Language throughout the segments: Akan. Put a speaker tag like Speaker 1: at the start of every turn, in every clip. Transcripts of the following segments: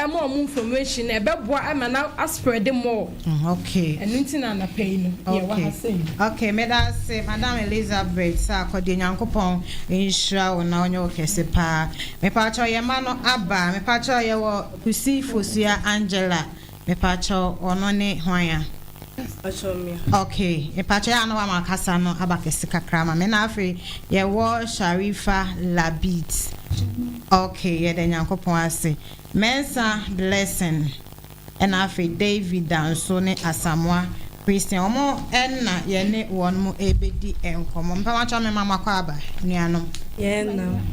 Speaker 1: ma wɔn information ɛbɛboa ma no a spread more. Mm okay. Ɛno nti
Speaker 2: na anapa
Speaker 1: yi no yɛ wɔ ha sɛɛ. Okay
Speaker 2: meda ase Madam Elizabeth Sarkor deɛ Nyankopɔn nhyira wo na ɔnyɛ wo kɛse paa. Mepakyɛw yɛn mma no aba a mepakyɛw yɛwɔ Kusi Fosua Angela mepakyɛw ɔno ne hwan a. Ok mepakyɛ yɛ a na wama kasa no aba kɛse kakra ma me na afei yɛwɔ Sharifa Labid ok yɛda Nyankopɔn ase Mensah Blessing ɛna afei Davy Danso ne Asamoah Christian wɔn ɛna yɛne wɔn mo ɛbɛdi nkɔmmɔ mpamokyɛw me ma moakɔ aba nuanom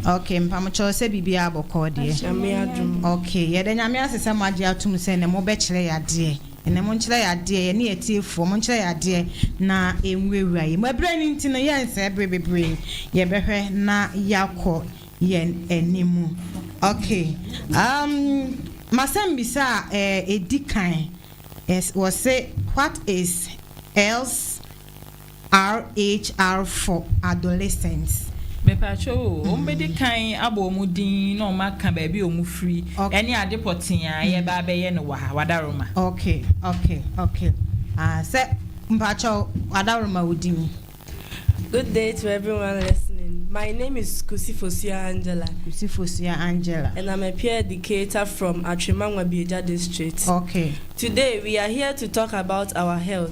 Speaker 3: ok mpamokyɛw
Speaker 2: sɛ biribiara bɔkɔɔ deɛ ok
Speaker 3: yɛda Nyame ase
Speaker 2: sɛ moagye atom sɛ nɛ mobɛkyerɛ yɛ adeɛ. Ɛnnɛ, monkyerɛ yɛn adeɛ, yɛne yɛn atiefoɔ, monkyerɛ yɛn adeɛ na ɛnwurawura yɛn mu. Ɛberɛ no nti no, yɛnsɛe berɛ bebree, yɛbɛhwɛ na yɛakɔ yɛn anim. Okay, um, m'asɛmmisa a ɛdi kan, wɔse, What is else? RHR for adolescents. Mepakyɛw
Speaker 4: o, wɔbedi kan abɔ wɔn din na wɔaka baabi a wɔfiri ne ade pɔtee a yɛreba abɛyɛ no wɔ ha. Wadaroma. Ok, ok,
Speaker 2: ok. Ah, sɛ, mepakyɛw, Wadaroma wo din. Good
Speaker 3: day to everyone listening. My name is Kusi Fosuah Angela. Kusi Fosuah Angela. And I'm a peer educator from Atwima Ngwabiagya district. Ok. Today
Speaker 2: we are
Speaker 3: here to talk about our health.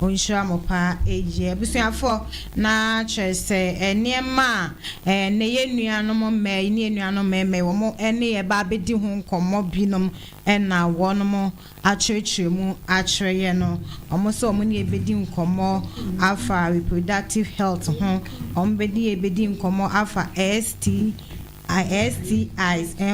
Speaker 2: Ɔnhyira mo paa eii. Abusuafoɔ na kyerɛ sɛ nneɛma a ɛnnɛ yɛn nuanom mmaa yi ne yɛn nuanom mmarima yi wɔn ne yɛn ba abɛdi ho nkɔmmɔ binom na wɔnom akyerɛkyerɛ mu akyerɛ yɛn no, wɔn sɛ wɔn ne yɛn bɛdi nkɔmmɔ afa reproductive health ho, wɔn bɛdi yɛn bɛdi nkɔmmɔ afa STIs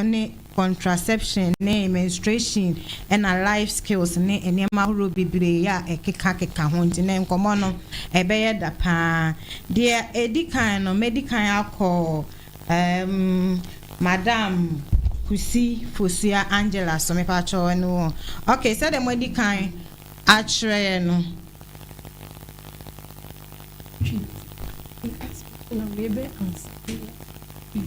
Speaker 2: ne. contraception ne menstruation ɛna life skills ne nneɛma ahorow bebree a ɛkeka keka ho nti ne nkɔmmɔ no ɛbɛyɛ da paa. Deɛ ɛdi kan no mɛdi kan akɔ ɛɛm Madam Kusi Fosua Angela so mepakyɛ wo ɛne wo ok sɛdeɛ moadi kan akyerɛ yɛ no.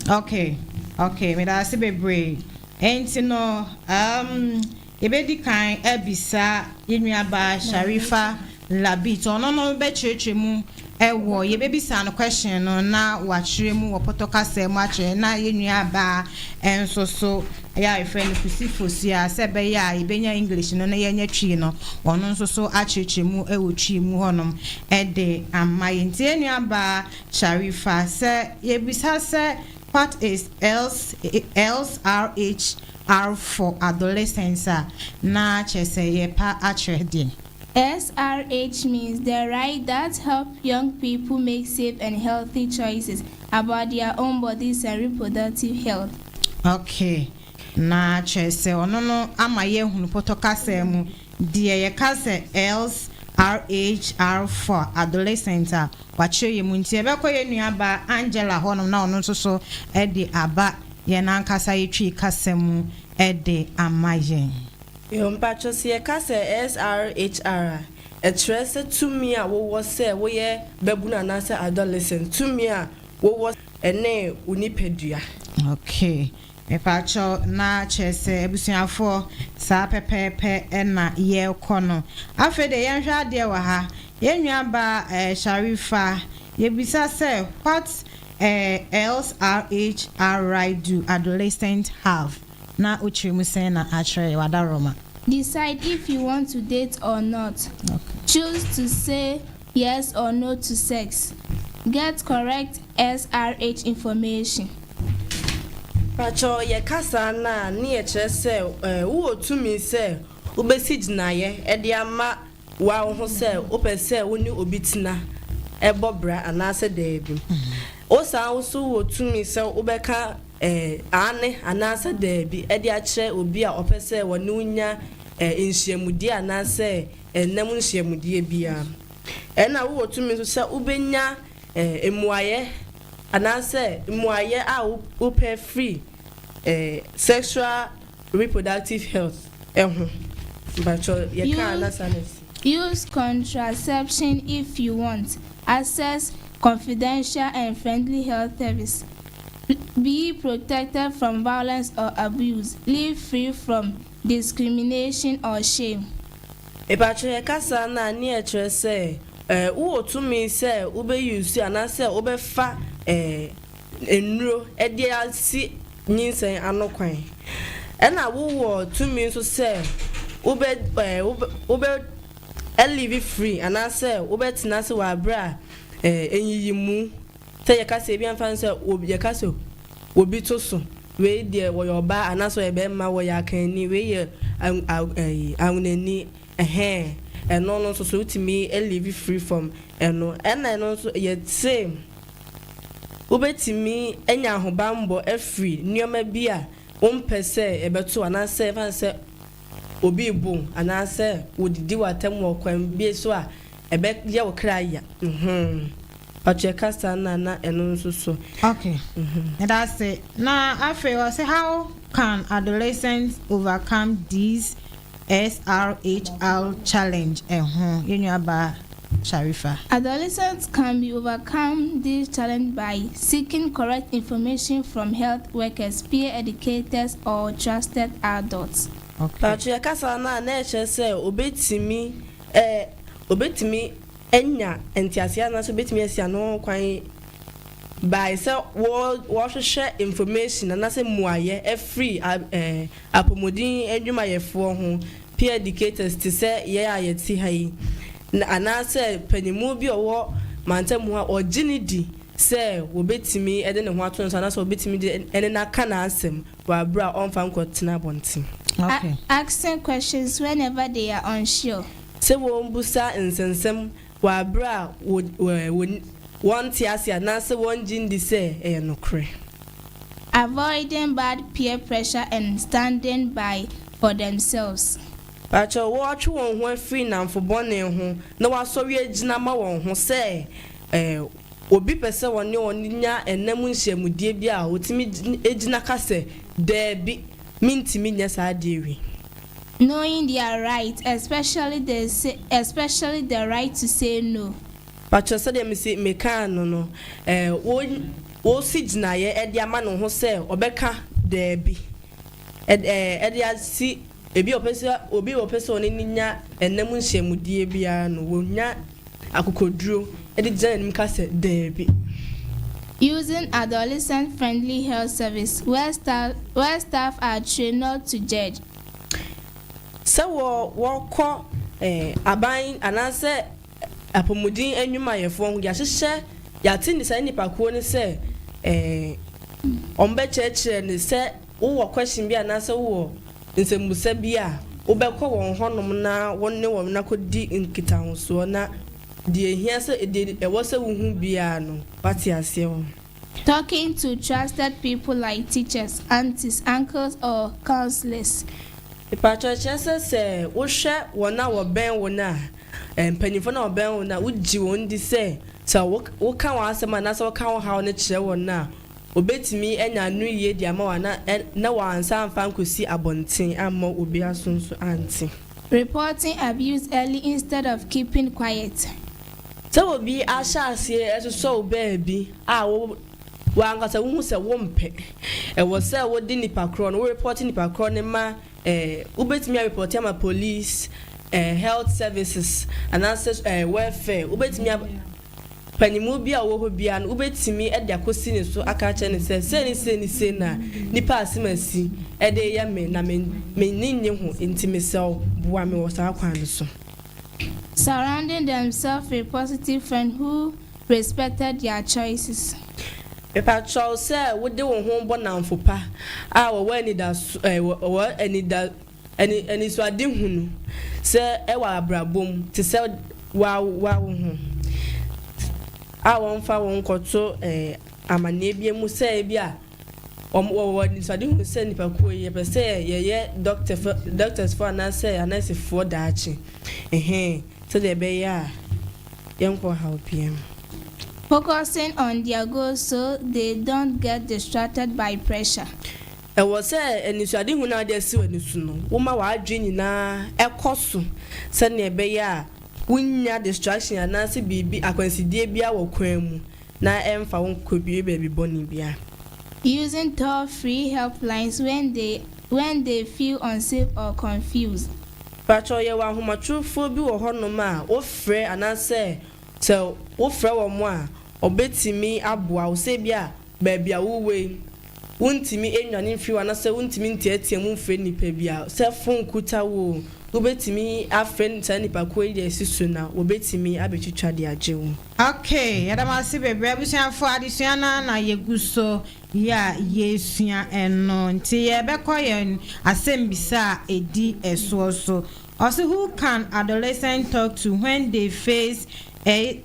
Speaker 2: Okay, okay, meda ase bebree. Enti no, um, yɛbɛdi kan abisa yɛn nuabaa Sharifa Labit. Ɔno no bɛkyerɛkyerɛ mu ɛwɔ, yɛbɛbisa no question no na wakyerɛ mu wɔ pɔtɔ kasa mu akyerɛ na yɛn nuabaa nso so Ɛyɛ a yɛfrɛ no Kusifos a, sɛ ɛbɛyɛ a yɛbɛnya English no na yɛanya Twi no, ɔno nso so akyerɛkyerɛ mu wɔ Twi mu hɔnom de ama yɛn. Nti yɛn nuabaa Sharifa, sɛ yɛbisa sɛ what is LSRHR for adolescents a, na kyerɛ sɛ yɛrepa akyerɛ deɛn? SRH
Speaker 5: means the right that help young people make safe and healthy choices about their own bodies and reproductive health. Ok,
Speaker 2: na kyerɛ sɛ ɔno no ama yɛahunu pɔtɔ kasaa mu deɛ yɛka sɛ SRH are for adolescents a wɔakyerɛ yɛn mu. Nti yɛbɛkɔ yɛn nuabaa Angela hɔnom na ɔno nso so de aba yɛn ankasa yɛtwi kasa mu de ama yɛn. Yo, mpakyɛ
Speaker 3: sɛ yɛka sɛ SRHR a, ɛkyerɛ sɛ tumi a wowɔ sɛ woyɛ babunu anaasɛ adolescent, tumi a wowɔ ɛne
Speaker 2: wo
Speaker 3: nipadua. Ok, mepakyɛ
Speaker 2: na kyerɛ sɛ abusuafoɔ saa pɛpɛɛpɛ na yɛrekɔ no. Afei deɛ yɛnhwɛ adeɛ wɔ ha, yɛn nua baa eh, Sharifa, yɛbisa sɛ what eh, lsrhri do adolescent have? na wo kyerɛ mu sɛn na akyerɛ w'adaworoma. Decide if
Speaker 5: you want to date or not, choose
Speaker 2: to
Speaker 5: say yes or no to sex, get correct SRH information.
Speaker 3: Pakyɛ ɔ yɛ ka saa no a ne yɛ kyerɛ sɛ wo wɔ tumi sɛ wo bɛ si gyinaeɛ de ama Woa wo ho sɛ wopɛ sɛ wo ne obi tena, bɔ bra anaasɛ daabi. Wo saa wo nso wɔ tumi sɛ wobɛka aane anaasɛ daabi de akyerɛ obi a ɔpɛ sɛ wɔne wo nya nhyiamudie anaasɛ nna mu nhyiamudie biara. Ɛna wowɔ tumi nso sɛ wobɛnya mmuaeɛ anaasɛ mmuaeɛ a wopɛ firi sexual Reproductive health ho. Mpakyɛw yɛkaa na saa na ɛsi. Use
Speaker 5: contraception if you want access confidential and friendly health service, be protected from violence or abuse, live free from discrimination or shame. Mpakyɛw
Speaker 3: yɛka saa no a nea ɛkyerɛ sɛ wowɔ tumi sɛ wobɛ use anaa sɛ wobɛfa nnuro de asi nyinsɛn ano kwan, ɛna wowɔ tumi nso sɛ wobɛ ɛɛ wobɛ wobɛ ɛliivi firi anaasɛ wobɛtena ase wɔ abere a ɛɛ nyiyimu sɛ yɛka sɛ ebi a nfa no sɛ obi yɛka sɛ obi to so wei deɛ wɔyɛ ɔbaa anaasɛ ɔyɛ bɛrima wɔyɛ akanni wei yɛ ɛyi awonani ɛhɛn ɛno no nso so wotumi ɛliivi firi fam ɛno ɛna ɛno nso yɛte. Wubetumi anya ahobammɔ afiri nneɛma bi a wompɛ sɛ ɛbɛto wo anaasɛ esiane sɛ obi rebo wo anaasɛ wodidi w'atam wɔ ɔkwan bi so a ɛbɛyɛ wo kra ya ho. Patrick ka saa na na ɛno nso so. Ok.
Speaker 2: Meda ase. Na afei ɔse how can adolescents overcome these SRHR Challenge ɛho, yɛn nuabaa Sharifa. Adolescents
Speaker 5: can be overcome this challenge by seeking correct information from health workers, peer educators or trusted adults. Okay. Mpakyɛ
Speaker 2: kasa no a
Speaker 3: na ɛkyerɛ sɛ obetumi ɛ obetumi anya nteaseɛ anaasɛ obetumi asi ano ho kwan by sɛ wɔ wɔhwehwɛ information anaasɛ mmuaeɛ afiri a ɛ. Apɔmuden adwumayɛfoɔ ho, peer educators te sɛ yɛn a yɛte ha yi, anaasɛ paninmu bi a ɔwɔ mantam hɔ a ɔgye no di sɛ wɔbɛtumi de ne ho ato ne so anaasɛ wɔbɛtumi de ne no aka n'asɛm wɔ aberɛ a ɔmfa nkɔtena abɔnten.
Speaker 2: Asking questions
Speaker 5: whenever they are unsure. Sɛ wɔbusa
Speaker 3: nsɛnsɛm wɔ bere a wo, wo, wo, wɔnte ase anaasɛ wɔnnye nni sɛ ɛyɛ nokorɛ.
Speaker 5: Avoiding bad peer pressure and standing by for themselves. Pakyɛw,
Speaker 3: wɔatwe wɔn ho afiri nnamfo bɔne ho na wɔasɔre agyina ama wɔn ho sɛ, eh, obi pɛ sɛ wɔne wɔn nya nna mu nhyiamudie bi a, wɔtumi gyina ka sɛ, Daabi. Mintumi nyɛ saa adeɛ wei. Knowing
Speaker 5: their right, especially the say, especially the right to say no. Pakyɛ sɛdeɛ
Speaker 3: mese mekaa no no, eh, wo, wosi gyinaeɛ de ama ne ho sɛ ɔbɛka daabi, ɛd, eh, de asi, ebi a ɔpɛ sɛ, obi a ɔpɛ sɛ ɔne no nya nna mu nhyiamudie biara no, wɔnya. akokoduro de gyina n'anim ka sɛ daabi.
Speaker 5: Using adolescent-friendly health service where staff where staff are trained not to judge. Sɛ wɔ
Speaker 3: wɔkɔ aban anaasɛ apɔmuden nnwumayɛfoɔ ho yɛahyehyɛ yɛate ne saa nnipakuo no sɛ wɔbɛkyerɛkyerɛ no sɛ. Wowɔ question bi anaasɛ wowɔ nsɛmbusa bi a, wobɛkɔ wɔn hɔnom na wo ne wɔn akɔdi nkitahosoɔ na deɛ ɛhia sɛ, deɛ ɛwɔ sɛ wohu biara no, woate aseɛ wɔ ho. Talking to
Speaker 5: trusted people like teachers, aunties, uncles or counsellors. Mpakyɛw,
Speaker 3: kyerɛ sɛ sɛ wohwɛ wɔn a wɔbɛn wo no a, eh, mpanyimfoɔ no a wɔbɛn wo no a, wogye wɔn di sɛ sɛ wo, woka w'asɛm anaasɛ woka wo haw no kyerɛ wɔn no a, Obetumi anya ano yiye de ama wo ana na wansan amfa ankosi abɔnten amma obi aso nso ante. Reporting
Speaker 5: abuse early instead of keeping quiet.
Speaker 3: Sɛ obi ahyɛ aseɛ
Speaker 5: sosɔ
Speaker 3: wo baabi a wo w'ankasa wohu sɛ wompɛ, ɛwɔ sɛ wode nipa korɔ no, wo report nipa korɔ no ma Eh, wobɛtumi arepɔte ama police, eh, health services, anaasɛ eh, welfare, wobɛtumi ab Panyinmuo bi a ɔwɔ hɔ biara no, wobɛtumi de akɔsi ne so aka akyerɛ no sɛ, sei ne sei ne sei na nnipa a asɛm asi de reyɛ me, na me, m'ani nnye ho, enti mesrɛ wo, boa me wɔ saa kwan no so.
Speaker 5: Surrounding themselves with positive friends who respected their choices. Mepakyɛw
Speaker 3: sɛ wode wo ho bɔ nnamfo pa a wɔwɔ anidaso, eh, wɔwɔ anida, ani, anisoadehu no sɛ ɛwɔ abrabɔ mu te sɛ w'awowa wo ho a wɔmfa wo nkɔto, eh, amanneɛbea mu sɛ ebia Wɔwɔ anisoadehu sɛ nnipakuo yi, yɛpɛ sɛ yɛyɛ dɔktɛsfoɔ anaasɛ anɛɛsefoɔ daakye, ɛhɛɛ, sɛdeɛ ɛbɛyɛ a yɛnkɔ ɔhaw biara mu. Focusing
Speaker 5: on their goals so they don't get distracted by pressure. Ɛwɔ sɛ
Speaker 3: anisoadehu no a wode asi w'ani so no, woma w'adwene nyinaa kɔ so sɛdeɛ ɛbɛyɛ a wonnya distraction anaasɛ biribi, akwansideɛ biara wɔ kwan mu. na ɛmfa wo nkɔdue baabi bɔne biara. Using
Speaker 5: toll free helplines when they when they feel unsafe or confused. Pakyɛw yɛwɔ
Speaker 3: ahomatrofoɔ bi wɔ hɔnom a wo frɛ anaasɛ sɛ wo frɛ wɔn a wɔbɛtumi aboa wo sɛ ebia baabi a wo wɔ yi Wuntumi nnwane mfiri hɔ anaasɛ wuntumi nteɛteɛ mu mfrɛ nnipa bi a, sɛ fon kuta wo oo, wubetumi afrɛ saa nnipakuw yi de asi so na wobetumi abetwitwa de agye wo. Ok, yɛda mo
Speaker 2: ase bebree abusuafo, adesua no ara na yegu so yi a yɛresua ɛno nti yɛbɛkɔ yɛn asɛmmisa a ɛdi ɛsoɔ so. Ɔse who can adolescent talk to when they face a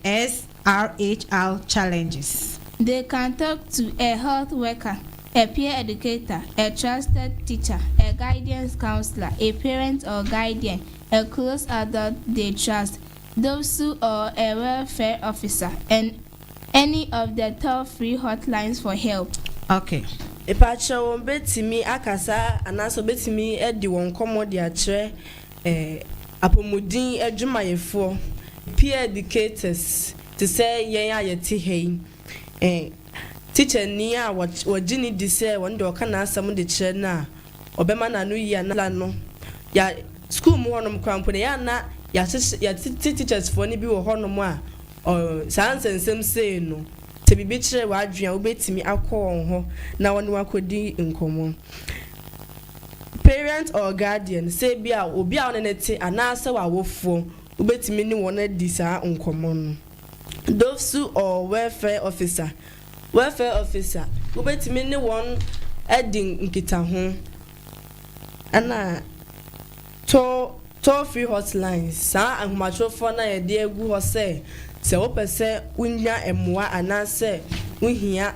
Speaker 2: RHR challenges. They can talk
Speaker 5: to a health worker, a peer educator, a trusted teacher, a guidance counselor, a parent or guardian, a close adult they trust, Dopsu or a welfare officer and any of the toll free hotlines for help. Okay.
Speaker 2: Mpakyɛw
Speaker 3: wɔbɛtumi akasa anaasɛ wɔbɛtumi adi wɔn nkɔmmɔ de akyerɛ Apɔmuden adwumayɛfoɔ, peer educators, te sɛ yɛn a yɛte ha yi, tikyani a wɔgye no di sɛ ɔno deɛ ɔka n'asɛm de kyerɛ no a, ɔbɛma n'ano yie anaa n'ano no. Yɛ sukuu mu hɔnom koraa mpo no, ɛyɛ a na yɛahyehyɛ yɛatete tikyɛsfoɔ no bi wɔ hɔnom a, saa nsɛnsɛm sei no, sɛ biribi kyere w'adwene a, wobɛtumi akɔ wɔn hɔ na wo ne wɔn akɔdi nkɔmmɔ. Parent or guardian, sɛ ebia obi a wo ne no te anaasɛ w'awofoɔ, wobɛtumi ne wɔn adi saa nkɔmmɔ no. Dofsu or Welfare Officer, Welfare Officer, wobɛtumi ne wɔn adi nkitaho, ɛna toll, toll free hotlines, saa ahomatorofoɔ no a yɛde agu hɔ sɛ sɛ wopɛ sɛ wonya mmoa anaasɛ wohia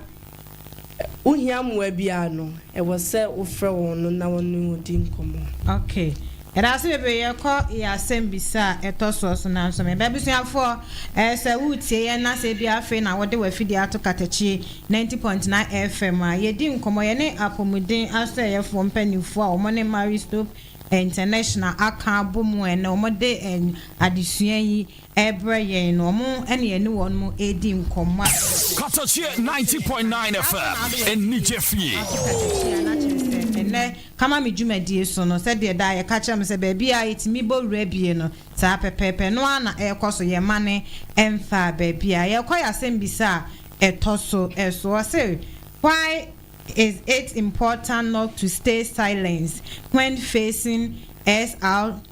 Speaker 3: wohia mmoa biara no, ɛwɔ sɛ wofrɛ wɔn no na wɔne wo di nkɔmmɔ. Ok.
Speaker 2: Yɛdase bebree yɛkɔ yɛ asɛm bisa a ɛtɔ soɔ so nanso me ba abusuafoɔ ɛyɛ sɛ wo tie yɛn na sɛ ebia afei na wode w'afidie ato katakyie na nti Pontena FM a yɛdi nkɔmmɔ yɛne apɔmuden asɔɛyɛfoɔ mpaninfoɔ a wɔn ne Marie Stopes International aka abɔ mu ɛnɛ wɔde adesua yi rebrɛ yɛn no, wɔn ne yɛne wɔn redi nkɔmmɔ a ɛyɛ fɛ. Katɔkyeɛ
Speaker 6: ninety point nine FM, anigye fie. Ase Katɔkyeɛ no akyerɛ sɛ ɛnnɛ
Speaker 2: Kama me dwumadie so no, sɛdeɛ daa yɛka kyerɛ mo sɛ baabi a yɛtumi bɔ wura bie no, saa pɛpɛɛpɛ no ara na ɛrekɔ so, yɛmmane mmfaa baabiara. Yɛrekɔ yɛ asɛmbisa a ɛtɔ so so. Wɔse, Why is it important not to stay silence when facing SR?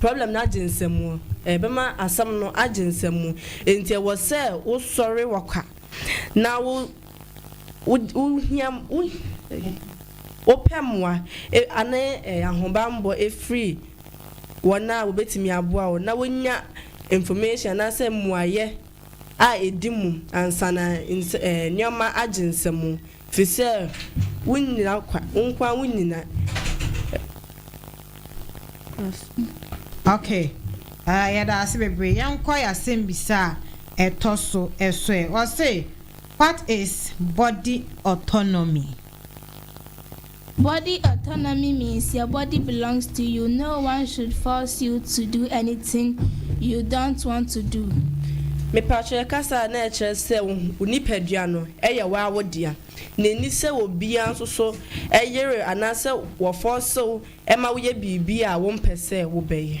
Speaker 3: Problem no agye nsamu. Ɛbɛma asɛm no agye nsamu. Enti ɛwɔ sɛ wosɔre wɔ kwa na wopɛ mmoa ne ahobammɔ firi wɔn a wɔbɛtumi aboa wo na wonya information anaasɛ mmuaeɛ a ɛdi mu ansa na nneɛma agye nsamu. Te sɛ wo nnyina kwa, wo nko ara wo nnyina.
Speaker 2: Ok ah yɛda ase bebree yɛnkɔ yɛ asɛmbisa a ɛtɔ so ɛso ɛ ɔse what is body autonomy.
Speaker 5: Body autonomy means your body belongs to you, no one should force you to do anything you don't want to do. Mepakyɛ
Speaker 3: yɛ kasa a na ɛkyerɛ sɛ wo nipadua no yɛ woaa wo dea na ɛnni sɛ obiaa nso so yere anaasɛ wɔ fɔɔse wo ma woyɛ biribi a wo mpɛ sɛ wo bɛyɛ.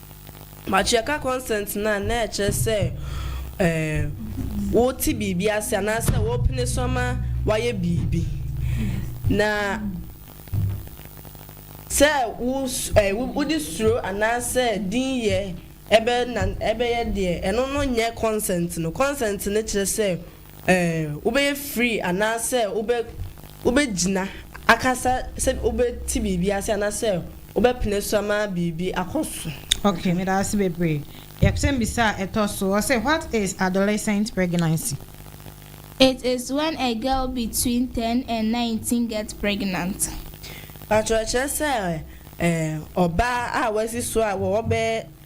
Speaker 3: Matriarchal consent no a na ɛkyerɛ sɛ wote biribi ase anaasɛ wopene so ama wɔayɛ biribi. Na sɛ wode suro anaasɛ dinyɛ bɛyɛ deɛ, ɛno no nyɛ consent no. Consent no kyerɛ sɛ Ɛɛ, wobɛyɛ free anaasɛ wobɛ, wobɛgyina akasa sɛ wobɛte biribi ase anaasɛ wobɛpene so ama biribi akɔ so? Okay, meda ase
Speaker 2: bebree. Yɛpsɛmbisa a ɛtɔ so, ɔse what is adolescent pregnancy? It
Speaker 5: is when a girl between ten and nineteen get pregnant. Paatwo
Speaker 3: ɛkyerɛ sɛ ɛɛ ɔbaa a wasi so a wɔwɔ bɛyɛ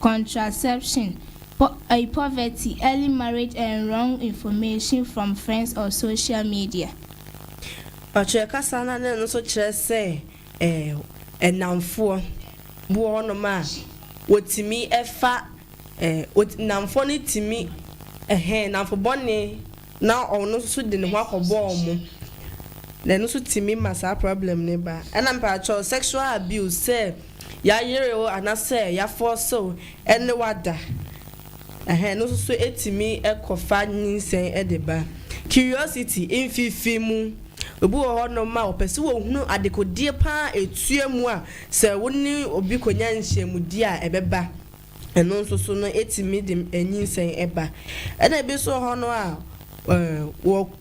Speaker 5: Contraception, po eh, poverty, early marriage and wrong information from friends or social media.
Speaker 3: Ɔkyerɛ kasa no a na ɛno nso kyerɛ sɛ eh, nnamfoɔ bi wɔ hɔnom a wɔtumi fa eh, nnamfoɔ no tumi eh, nnamfo bɔne. na ɔno nso de ne ho akɔbɔ wɔn na ɛno nso tumi ma saa problem no ba ɛna mpaakyɛw sexual abuse sɛ yayere wo anasɛ yafɔɔse wo ɛne wada ɛhɛn ɛno nso so etumi ɛkɔfa nyinsɛn ɛde ba curiosity mfifi mu obi wɔ hɔ nom a ɔpɛ sɛ wɔhunu adekodeɛ paa etua mu a sɛ wo ne obi konya nhyɛmudie a ɛbɛba. Ɛno nso so no, etumi de anyinsɛn ba. Ɛna ebi nso wɔ hɔ no a,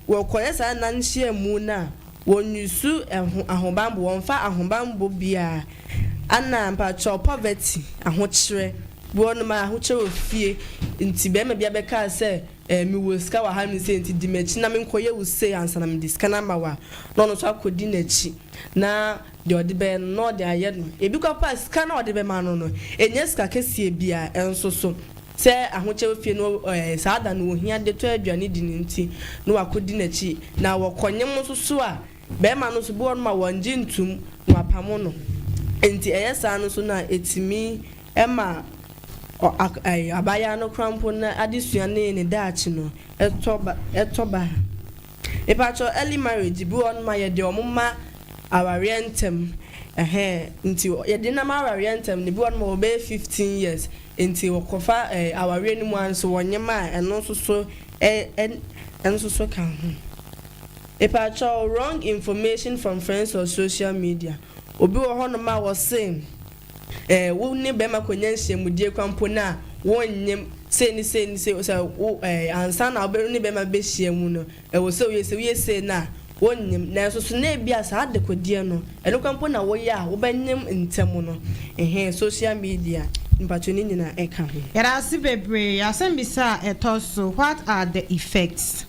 Speaker 3: wɔkɔyɛ saa nna nhyiamu no a, wɔnnusu ɛho ahobanbɔ, wɔmfa ahobanbɔ biara. Ana mpakyɛw poverty, ahokyerɛ, bi wɔ hɔ nom a ahokyerɛ wɔ fie nti bɛrima bi abɛkaa sɛ mewɔ sika wɔ ha nom sei nti di m'akyi na menkɔyɛ wo sei ansa na mede sika no ama wo a, na ɔno nso akɔdi n'akyi na. Deɛ ɔde bɛyɛ no, na ɔde ayɛ no. Ebi koraa mpo a, sika no a wɔde bɛma no no, ɛnyɛ sika kɛseɛ biara nso so. Sɛ ahokyɛ wɔ fie no, ɛɛ, saa da no wɔhia de tɔ aduane di no nti, na wɔakɔdi n'akyi. Na wɔkɔnyem nso so a, barima no nso, bi wɔ hɔnom a, wɔngye ntom, na wɔapamo no. Enti ɛyɛ saa no nso no a, ɛtumi ma ɔ, ak, ɛɛ, abaayaa no koraa mpo no adesua ne ne daakye no, ɛtɔ ba, ɛtɔ ba. Mepakyɛw early marriage bi wɔ hɔ nom a yɛde wɔn ma awareɛ ntɛm ɛhɛɛ nti yɛde nam awareɛ ntɛm no ebi wɔ hɔ nom a wɔbɛyɛ fifteen years nti wɔkɔfa ɛɛ awareɛ no mu ara nso wɔn nyɛ ma a ɛno nso so ɛ ɛ ɛno nso so ka ho. Mepakyɛw wrong information from friends or social media obi wɔ hɔ nom a wɔse. Eh, wo ne bɛrima kɔnya nhyiamudie kora mpo no a, wonnyem, sei ne sei ne sei, sɛ wo eh, ansa na wo ne bɛrima bɛhyia mu no, ɛwɔ sɛ woyɛ sei, woyɛ sei no a, wonnyem. Nanso so na ebia saa adekodeɛ no, ɛno kora mpo na woyɛ a, wobɛnyem ntɛm no? Ɛhɛn, social media, mpakyɛ ne nyinaa ɛka ho. Yɛda ase bebree.
Speaker 2: Asɛmmisa a ɛtɔ so, What are the effects?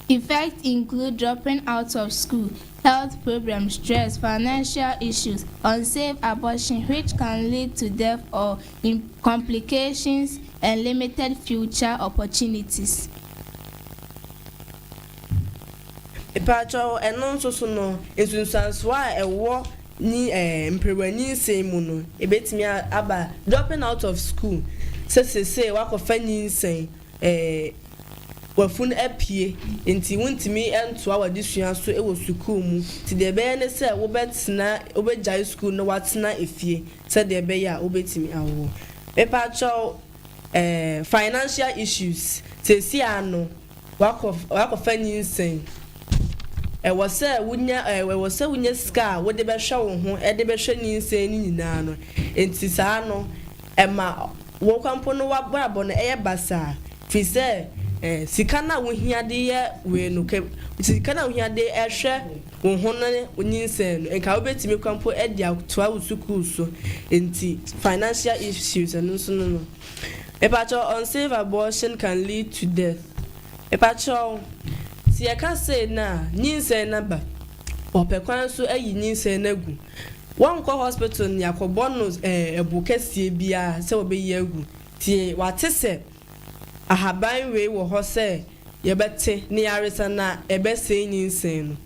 Speaker 5: Effects include dropping out of school, health problems, stress, financial issues, unsafe abortion which can lead to death or im complications and limited future opportunities.
Speaker 3: Mpaakyɛw, ɛno nso so no, nsunsuansoɔ a ɛwɔ nyi ɛɛ mperewa nyinsɛn mu no, ebetumi a aba dropping out of school sɛ seesei wakɔfa nyinsɛn Ee, w'afunu apue, enti wuntumi ntoa w'adesua so wɔ sukuu mu. Enti nea ɛbɛyɛ ne sɛ wobɛtena, wobegyae sukuu no na woatena fie sɛnea ɛbɛyɛ a wubetumi awo. Mepakyɛw, eh, financial issues, seesei ara no, woakɔ, woakɔfa nyinsɛn. Ɛwɔ sɛ wunya, eh, ɛwɔ sɛ wunya sika a wode bɛhwɛ wo ho de bɛhwɛ nyinsɛn no nyinaa no. Enti saa no. Ɛma wo nkwa mpo no w'abrabɔ no yɛ basaa, firi sɛ sika no a wohia de yɛ wei no, ka sika no a wohia de hwɛ wo ho ne wo nyinsɛn no, nka wobɛtumi kora mpo de atoa wo sukuu so, nti financial issues ɛno nso no no. Mepakyɛw, unsafe abortion can lead to death. Mepakyɛw, sɛ yɛka sei no a, nyinsɛn no aba, wɔpɛ kwan so ayi nyinsɛn no agu. Wɔnkɔ hospital ne akɔbɔ no ɛbo kɛseɛ biara sɛ wɔbɛyi agu. Tie, wate sɛ ahaban wei wɔ hɔ sɛ yɛbɛte ne yaresa na ɛbɛsɛe nyinsɛn no.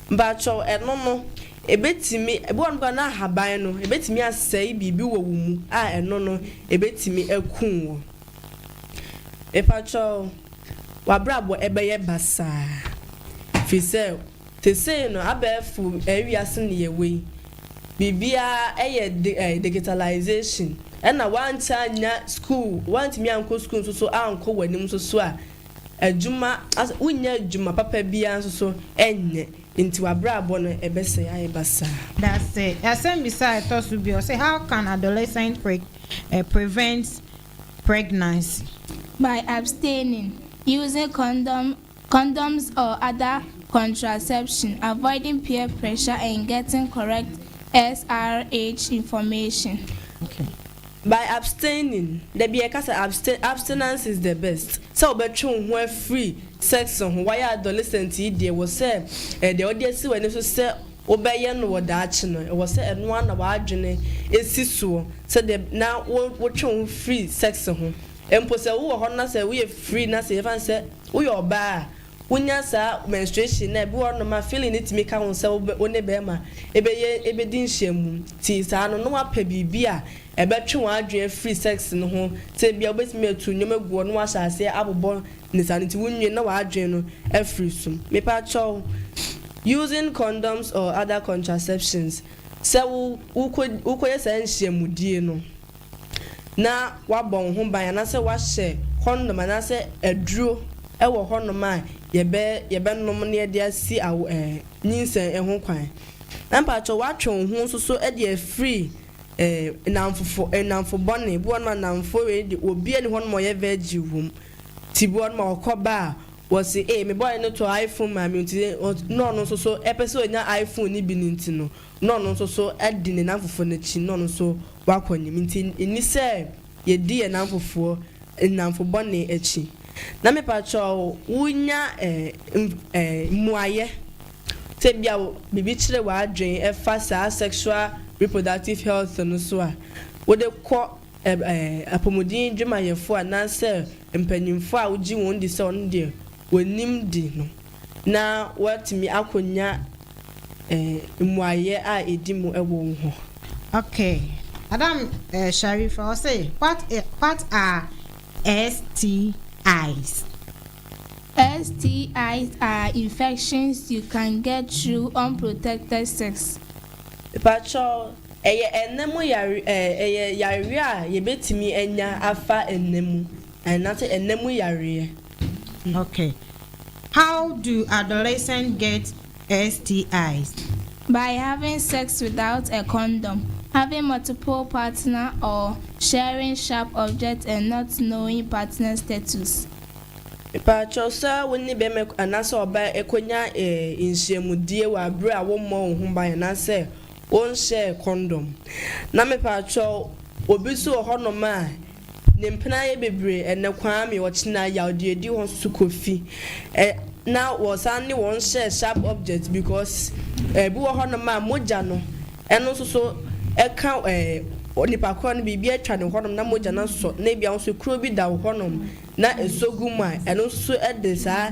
Speaker 3: Mpakyɛw, ɛno no, ɛbɛtumi, ebi wɔ hɔ nom koraa na ahaban no, ɛbɛtumi asɛe biribi wɔ wo mu a ɛno no, ɛbɛtumi akum wo. Mepakyɛw, w'abrabɔ ɛbɛyɛ basaa, firi sɛ. Te sei no, abɛɛfo wiase na yɛwɔ yi, biribiara yɛ digitalization, ɛna woantumi annya sukuu, woantumi ankɔ sukuu nso so ankɔ w'anim nso so a, adwuma, wonnya adwuma papa biara nso so nyɛ, nti w'abrabɔ no ɛbɛsɛe ayɛ basaa. Dase.
Speaker 2: Asɛmmisa a ɛtɔ so bio se, How can adolescent prevent pregnancy? By
Speaker 5: abstaining, using condom Condoms or other contraception, avoiding peer pressure and getting correct SRH information.
Speaker 2: By
Speaker 3: abstaining, da bi yɛka sɛ abstain, abstinence is the best, sɛ wobɛtwe wo ho afiri sex ho, wayɛ adolescent yi deɛ ɛwɔ sɛ ɛyɛ deɛ wode asi w'ani so sɛ wobɛyɛ no wɔ daakye no, ɛwɔ sɛ ɛno ara na w'adwene si soɔ sɛdeɛ na wotwe wo ho firi sex ho mpo sɛ wowɔ hɔ no na sɛ woyɛ free na sɛ yɛfa no sɛ. Woyɛ ɔbaa a, wonya saa menstruation no a, ebi wɔ hɔnom a feeling no tumi ka ho sɛ wobɛ, wo ne barima bɛyɛ, bɛdi nhyiamu. Nti saa no, na woapɛ biribi a ɛbɛtwe wɔn adwene afiri sex no ho. Sɛ ebia wobɛtumi atu nneɛma agu hɔ na woahyɛ aseɛ abobɔ ne saa no nti wonwie no na w'adwene no afiri so. Mepa kyɛw, using condoms or other contraceptions, sɛ wo, wokɔ, wokɔyɛ saa nhyiamudie no, na wɔabɔ wo ho ban anaasɛ wɔahyɛ kɔndɔm anaasɛ aduro wɔ hɔnom a yɛbɛ yɛbɛnom na yɛde asi awo ɛɛ nyinsɛn ho kwan. Na mpakyɛw woatwe wo ho nso so de afiri ɛɛ nnamfofo nnamfo bɔne bi wɔ hɔnom a nnamfoɔ wei de obiara nni hɔnom a ɔyɛ virgin wɔ mu nti bi wɔ hɔnom a wɔkɔ ba a wɔse ee me boy no tɔ iPhone maa me nti na ɔno nso so ɛpɛ sɛ ɔnya iPhone no bi no nti no na ɔno nso so adi ne nnamfofoɔ no akyi na ɔno nso wakɔ anim. Nti nni sɛ yɛdi yɛn nnamfofoɔ, nnamfo bɔne akyi. Na mepakyɛw wonya mmuaeɛ sɛ ebia biribi kyere w'adwene ɛfa saa sexual reproductive health no so a, wode kɔ apɔmuden dwumayɛfoɔ anaasɛ mpanyimfoɔ a wogye wɔn di sɛ wɔn deɛ wɔnim de no. na woatumi akonya mmuaeɛ a ɛdi mu wɔ wo hɔ. Ok,
Speaker 2: Madam Sharifa, ɔse what what are STIs? STIs
Speaker 5: are infections you can get through unprotected sex. Mepakyɛw,
Speaker 3: ɛyɛ ɛnna mu yare ɛɛ ɛyɛ yareɛ a yɛbɛtumi anya afa ɛnna mu, ɛnna sɛ ɛnna mu yareɛ. Okay
Speaker 2: how do adolescent get STIs? By
Speaker 5: having sex without a condom, having multiple partner or sharing sharp objects and not knowing partner status. Mpakyɛ
Speaker 3: sɛ wo ne bɛma anaasɛ ɔbaa ɛkɔnya nhyiamudie wɔ abere a wo mmɔ wo ho ban anaasɛ wo nhyɛɛ kɔndɔm na mepakyɛw obi nso wɔ hɔ nom a Ne mpena yɛ bebree ɛnnɛ, Kwame, ɔkyena yawdeɛ di wɔn so kɔ fi ɛ na wɔsan ne wɔn hyɛ sharp objects because ɛbi wɔ hɔ nom a mogya no ɛno nso so ɛka ɛ nipa korɔ no biribi atwa ne hɔ nom na mogya no asɔ na ebia nso kuro bi da wo hɔ nom na ɛsɔ gu mu a ɛno nso so ɛde saa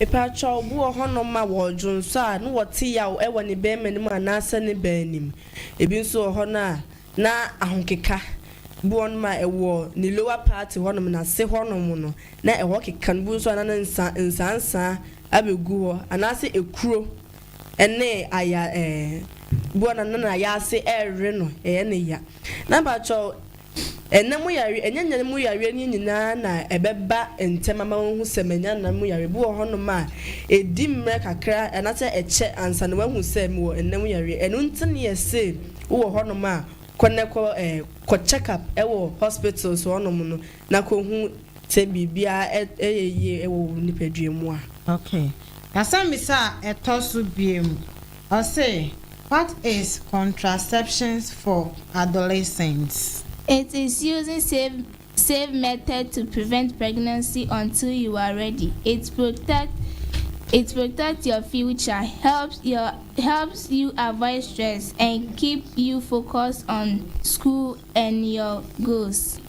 Speaker 5: Epaakyɛw
Speaker 3: bi wɔ hɔ nom a wɔɔdwonsɔ a ne wɔte yaw ɛwɔ ne bɛɛma no mu anaasɛ ne baa no mu. Ebi nso wɔ hɔ no a na ahokeka bi wɔ nom a ɛwɔ ne lower party hɔ nom, n'ase hɔ nom no na ɛhɔ keka no. Ebi nso a na ne nsa nsansaa abɛ gu hɔ anaasɛ ekuro ɛne aya ɛɛ ebi wɔ no a na n'ayaase ɛɛwe no ɛyɛ ne ya. Na mpaakyɛw Ɛnã mu yareɛ, ɛnyɛ nyan mu yareɛ no nyinaa na ɛbɛba ntɛm ama woahu sɛ manya nã mu yareɛ. Bi wɔ hɔnom a, ɛdi mmerɛ kakra anaasɛ ɛkyɛ ansa na woahu sɛ mewɔ nã mu yareɛ. Ɛno nti na yɛse wowɔ hɔnom a, kɔ na kɔ eh, kɔ check up wɔ hospitals hɔnom no na kɔhu sɛ biribiara yɛ yie wɔ wo nipadua mu a. Okay.
Speaker 2: Asɛmmisa a ɛtɔ so biom. Ɔse, What is contraceptions for adolescents? It is
Speaker 5: using safe safe method to prevent pregnancy until you are ready, it protect it protect your future, helps your helps you avoid stress and keep you focus on school and your goals.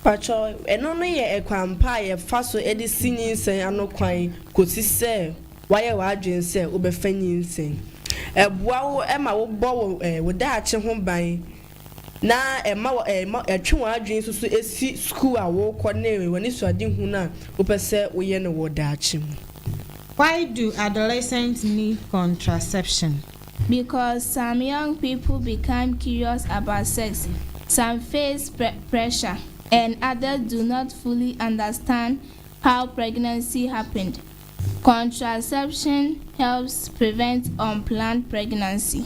Speaker 3: Pakyɛ, ɛno no yɛ ɛkwan pa a yɛfa so de si nyinsɛn ano kwan kosi sɛ Woayɛ w'adwene sɛ wobɛfa nyinsɛn? Ɛboa wo ma wobɔ wo daakye ho ban na ɛma ɛtwe wɔn adwene nso so si sukuu a worekɔ ne w'anisoadehunu a wopɛ sɛ woyɛ no wɔ daakye mu. Why
Speaker 2: do adolescents need contraception? Because
Speaker 5: some young people become curious about sex, some face pressure, and others do not fully understand how pregnancy happened, Contraception helps prevent unplanned pregnancy.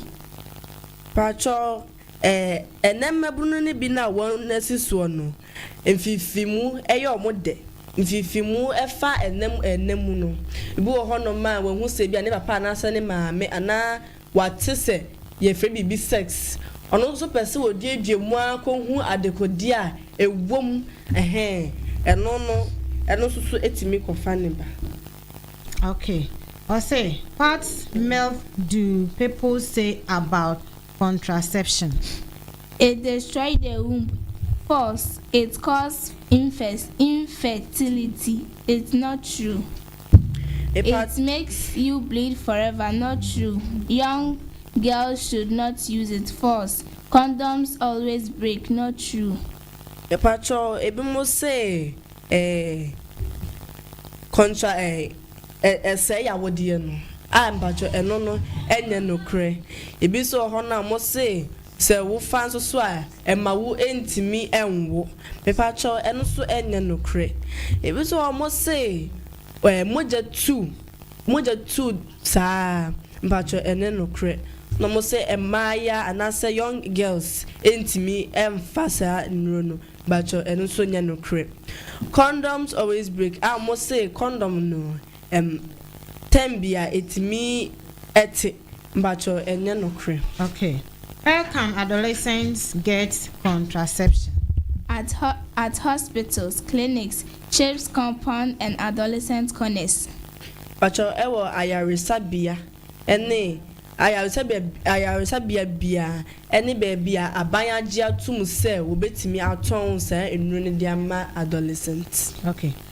Speaker 3: Pakyɛw eh, ɛnnɛ mmabunu no bi no a wɔn asi soɔ no, mfifimu yɛ wɔn dɛ. Mfifimu fa ɛnna mu ɛnna mu no, ebi wɔ hɔnom a wahu sɛ ebia ne papa anaasɛ ne maame anaa W'ate sɛ yɛfrɛ biribi sex, ɔno nso pɛ sɛ oduadua mu ara kɔhu adekodeɛ a ɛwɔ mu, ɛhɛn, ɛno no, ɛno nso so tumi kɔfa ne ba. Ok,
Speaker 2: ɔse what milk do people say about contraception?
Speaker 5: It destroy the womb cause it cause infertility, it's not true. It makes you bleed forever not true young girls should not use it false condoms always break not true. Mepakyɛw
Speaker 3: ebinom se eh contra eh eh ɛsɛe yawodeɛ no a mepakyɛw ɛno no ɛnyɛ nokorɛ ebi nso wɔ hɔ nom a wɔse sɛ wofa nso so a Ɛma wo ntumi nwo. Mepakyɛw ɛno nso ɛnyɛ nokorɛ. Ebi nso wɔ hɔ wɔn se ɛɛ mogya tu, mogya tu saa. Mepakyɛw ɛnyɛ nokorɛ. Na wɔn se mmaayaa anaasɛ young girls ntumi nfa saa nnuro no. Mepakyɛw ɛno nso nyɛ nokorɛ. Condoms always break a wɔn se condom no Ɛm tɛm bi a ɛtumi ɛte mpakyɛw ɛnyɛ nokorɛ. Ok where
Speaker 2: can adolescents get contraception? At
Speaker 5: at hospitals, clinics, CHIPS compound and adolescent corners. Mpakyɛw
Speaker 3: ɛwɔ ayaresabea ɛne ayaresabea ayaresabea biara ɛne baabi a aban agye atom sɛ wɔbɛtumi atɔn saa nnuro no de ama adolescents. Ok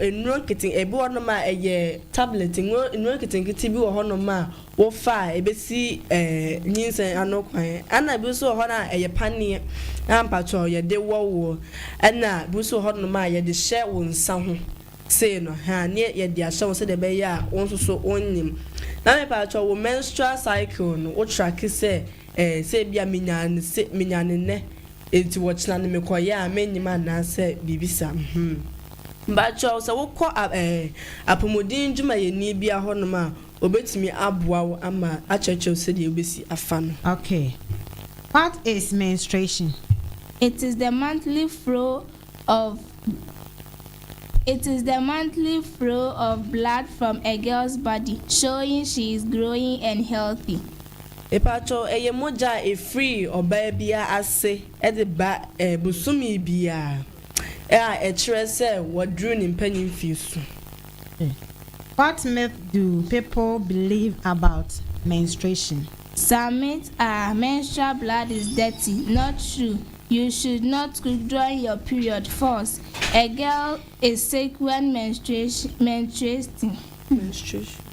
Speaker 3: Nnuro nkete, ebi wɔ hɔnom a ɛyɛ tablet, nnuro nnuro nketenkete bi wɔ hɔnom a wofa a ebesi ɛɛ nyinsɛn ano kwan. Ɛna ebi nso wɔ hɔ a ɛyɛ paneɛ a mpakyɛw yɛde wɔ woɔ. Ɛna ebi nso wɔ hɔnom a yɛde hyɛ wo nsa ho sei no ha a ne yɛde ahyɛ wo sɛdeɛ ɛbɛyɛ a wo nso so wonyem. Na mepakyɛw wo menstrual cycle no wo track sɛ ɛɛ sɛ ebia menyaa no se menyaa no nnɛ. Enti wɔkyena no mekɔyɛ a mennyim anaa sɛ biribi sa hmm. Mbakyɛw sɛ wokɔ eh apomuden ndwumayɛni bia hɔnom a obetumi aboa wo ama akyerɛkyerɛ wo sɛdeɛ wobesi afa no. Okay.
Speaker 2: What is menstruation? It is
Speaker 5: the monthly flow of It is the monthly flow of blood from a girl's body showing she is growing and healthy. Mepakyɛw
Speaker 3: ɛyɛ mogya a ɛfiri ɔbaa biara ase de ba bosome biara a ɛkyerɛ sɛ waduru ne mpanin mfeɛ su.
Speaker 2: What myth do people believe about menstruation? Some myths
Speaker 5: are, Menstrual blood is dirty, not true. You should not cook during your period false A girl is sick when menstruation menstruating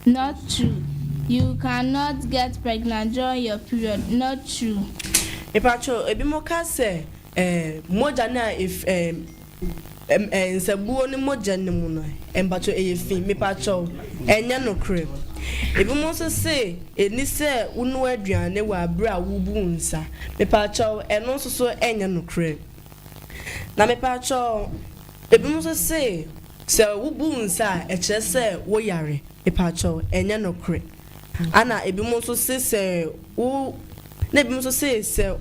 Speaker 5: Not true You can not get pregnant during your period Not true. Mepakyɛw,
Speaker 3: ebinom ka sɛ eh, mogya no a ef eh. Nsabuo no mogya no mu no mpakyɛw ɛyɛ fii mepakyɛw ɛnyɛ nokorɛ ebinom nso se ɛni sɛ wonoa aduane wɔ abere a wobu wo nsa mepakyɛw ɛno nso so ɛnyɛ nokorɛ na mepakyɛw ebinom nso se sɛ wobu wo nsa a ɛkyerɛ sɛ wo yare mepakyɛw ɛnyɛ nokorɛ ɛna ebinom nso se sɛ wo na ebinom nso se sɛ.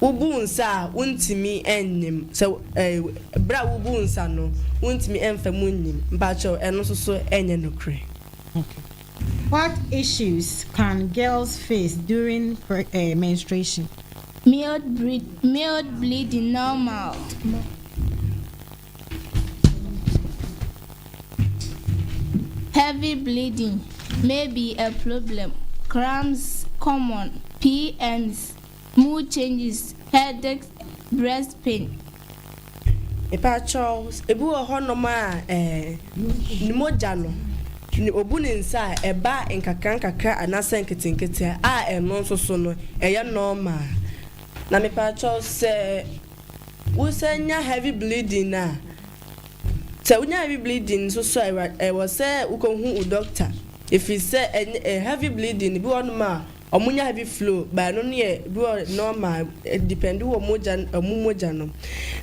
Speaker 3: Wobuu nsa a, wontumi nnyim. Sɛ ɛɛ bere a wobuu nsa no, wontumi mfa mu nnyim. Mpakyɛw, ɛno nso so ɛnyɛ nokorɛ.
Speaker 2: What issues can girls face during menstruation?
Speaker 5: Mild bleeding normal. Heavy bleeding may be a problem, cramps common, PMS, mood changes, headaches, breast pain. Mpakyɛw,
Speaker 3: ebi wɔ hɔ nom a eh, ne mogya no, ne obu ne nsa a ɛba nkakrankakra anaasɛ nketenkete a ɛno nso so no ɛyɛ normal. Na mepakyɛw sɛ. Wosan nya heavy bleeding a, sɛ wonya heavy bleeding nso so a, ɛwɔ sɛ wokɔhu wo dɔkta, ɛfiri sɛ ɛnyɛ heavy bleeding no, bi wɔ hɔnom a wɔnya heavy flow, but ɛno no yɛ bi wɔ normal, ɛdepɛnde wɔ mogya no, wɔn mogya no.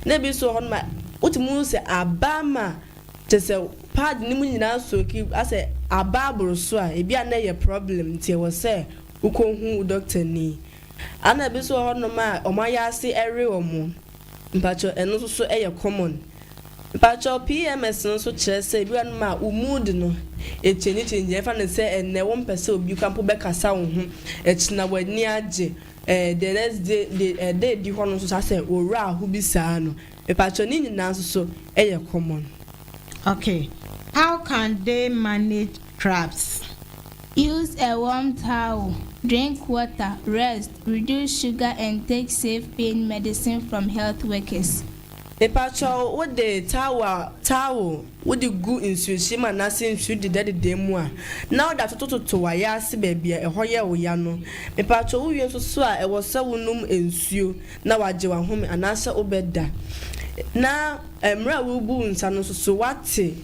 Speaker 3: Na ebi nso wɔ hɔnom a, wotumi hu sɛ aba ama kyerɛ sɛ pad no mu nyinaa asooki, asɛ aba aboro so a, ebi a na ɛyɛ problem nti ɛwɔ sɛ wokɔhu wo dɔktani. Ana ebi nso wɔ hɔ nom a wɔn ayɛ ase ɛre wɔn? Mpakyɛw ɛno nso so ɛyɛ common? Mpakyɛw PMS no nso kyerɛ sɛ ebi wɔ hɔ nom a wo mood no ɛchange change ɛmfa no sɛ ɛnnɛ wo mpɛ sɛ obi kura mpo bɛ kasa wo ho, ɛkyena w'ani agye ɛɛ the next day de ɛda edi hɔ nom nso saa sɛ wo werɛ aho bi saa no. Mpakyɛw ne nyinaa nso so ɛyɛ common? Okay,
Speaker 2: how can they manage crabs? Use
Speaker 5: a warm towel, drink water, rest, reduce sugar and take safe pain medicine from health workers. Mepakyɛw
Speaker 3: wo de towel a towel wode gu nsuhyiem anaase nsu dedadeda mu a na wode atotototo w'ayaase baabi a ɛhɔ yɛ wo ya no. Mepakyɛw wo wie nso so a ɛwɔ sɛ wo nom nsuo na wagye w'ahome anaasɛ wobɛda na mmerɛ a worebu wo nsa no nso so wate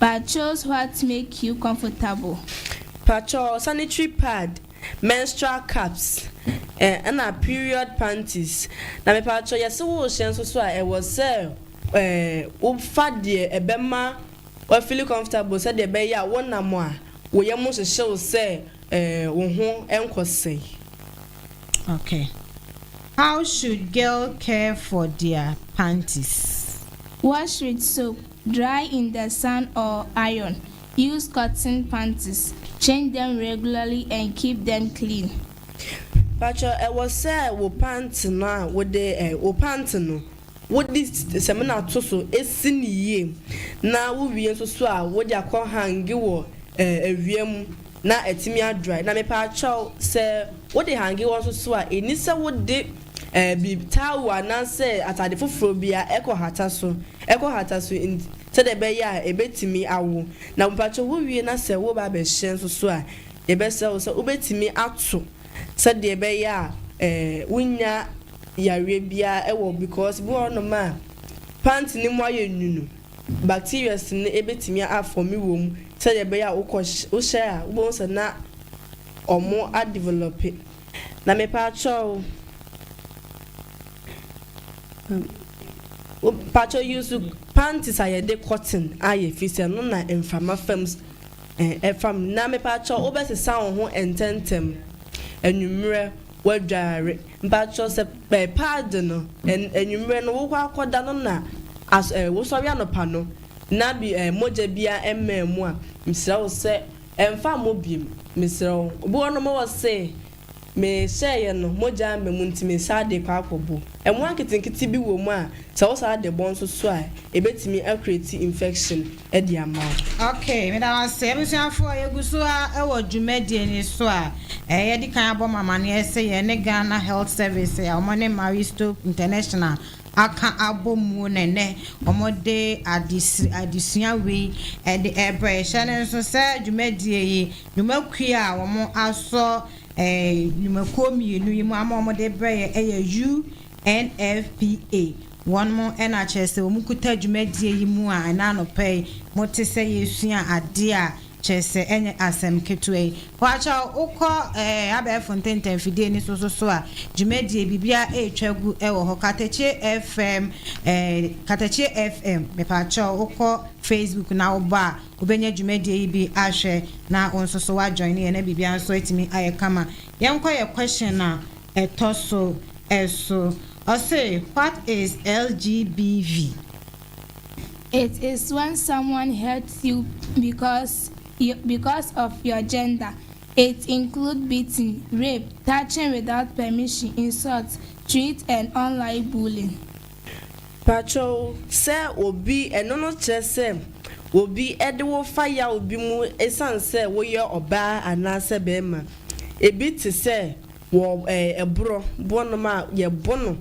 Speaker 5: Pakyous what make you comfortable? Pakyoo
Speaker 3: sanitary pad, menstrual cups, eh ɛna period panties. Na mepakyoo yɛse wo hyɛ nso so a ɛwɔ sɛ eh wo fa deɛ ɛbɛma wa feel comfortable sɛdeɛ ɛbɛyɛ a wo nam a wo yam hyehye wo sɛ eh wo ho nkɔ sɛe.
Speaker 2: Okay how should girl care for their panties? Wash with
Speaker 5: soap. Dry in the sun or iron, use cotton panties, change them regularly and keep them clean. Pacho
Speaker 3: ɛwɔ sɛ wo pant no a wode eh wo pant no wode samina to so si no yie na wo wie nso so a wode akɔ hange wɔ eh awia mu na atumi adry na mepakyɛw sɛ wode hange hɔ nso so a ɛni sɛ wode Ɛbi, taawu anaasɛ atade foforɔ bi a ɛkɔhata so, ɛkɔhata so nti, sɛdeɛ ɛbɛyɛ a ɛbɛtumi awo. Na mpakyɛ wowie na sɛ woreba abɛhyɛ nso so a, yɛbɛsrɛ wo sɛ wobɛtumi ato sɛdeɛ ɛbɛyɛ a wonnya yareɛ biara wɔ because bi wɔ hɔnom a pant no mu ayɛ nwunu, bacterias no ɛbɛtumi afɔme wɔ mu sɛdeɛ ɛbɛyɛ a wokɔ wohyɛ a wobɛhu sɛ na wɔn adevelɔpe. Na mepaakyɛw wo paakyɛw use panties a yɛde cotton ayɛ efisɛ ɛno na mframa fam ɛfa mu. Na mepaakyɛw wo bɛsesa wo ho ntɛntɛm anwummerɛ w'adware. Mpaakyɛw sɛ paadi no anwummerɛ no wokɔ akɔda no na wosɔre anɔpa no na mogya biara mmaa mu a, mesrɛ wo sɛ. Ɛmfa mmɔ biom mesrɛ wo. Obi wɔ nom wɔ se me hyɛɛ yɛ no mogya amba mu nti me saa de kɔ akɔ bo. Ɛmoa nketenkete bi wɔ mu a sɛ wo saa de bɔ nso so a ɛbɛtumi a create infection de ama wo. Ok meda wo
Speaker 2: ase abusuafoɔ yɛgu so ara wɔ dwumadie no so a ɛɛ yɛdi kan abɔ mo amaneɛ sɛ yɛne Ghana Health Service a wɔne Marie Stopes International aka abɔ mu na ɛnnɛ wɔde adesua wei de rebrɛ. Hyɛ no nso sɛ dwumadie yi, dwumakuo a wɔasɔ nnwumakuo mmienu yi mu ama wɔde rebrɛ yɛn yɛ UNFPA. Wɔn na kyerɛ sɛ wɔkuta dwumadie yi mu a ɛnnɛ anɔpa yi mote sɛ yɛresua adeɛ a Kyerɛ sɛ, ɛnyɛ asɛm ketewa yi. Wɔakyɛ wo, wokɔ abɛɛfo ntɛntɛmfidie no so nso a, dwumadie, biribiara retwa agu wɔ hɔ. Katakyie FM, Katakyie FM, mepakyɛw, wokɔ Facebook na wobɔ a, wobɛnya dwumadie yi bi ahwɛ na wo nso so woajoine yɛn na biribiara nso atumi ayɛ kama. Yɛnkɔ yɛn question a ɛtɔ so so. Ɔse, what is LGBV?
Speaker 5: It is when someone hurts you because because of your gender, it include beating, rape, touching without permission, insult, threat and online bullying. Pakyɛw,
Speaker 3: sɛ obi, ɛno no kyerɛ sɛ obi de wo fa yaw bi mu esiane sɛ woyɛ ɔbaa anaasɛ barima. Ebi te sɛ Wɔ ɛɛ borɔ boɔ nom a yɛ bo no,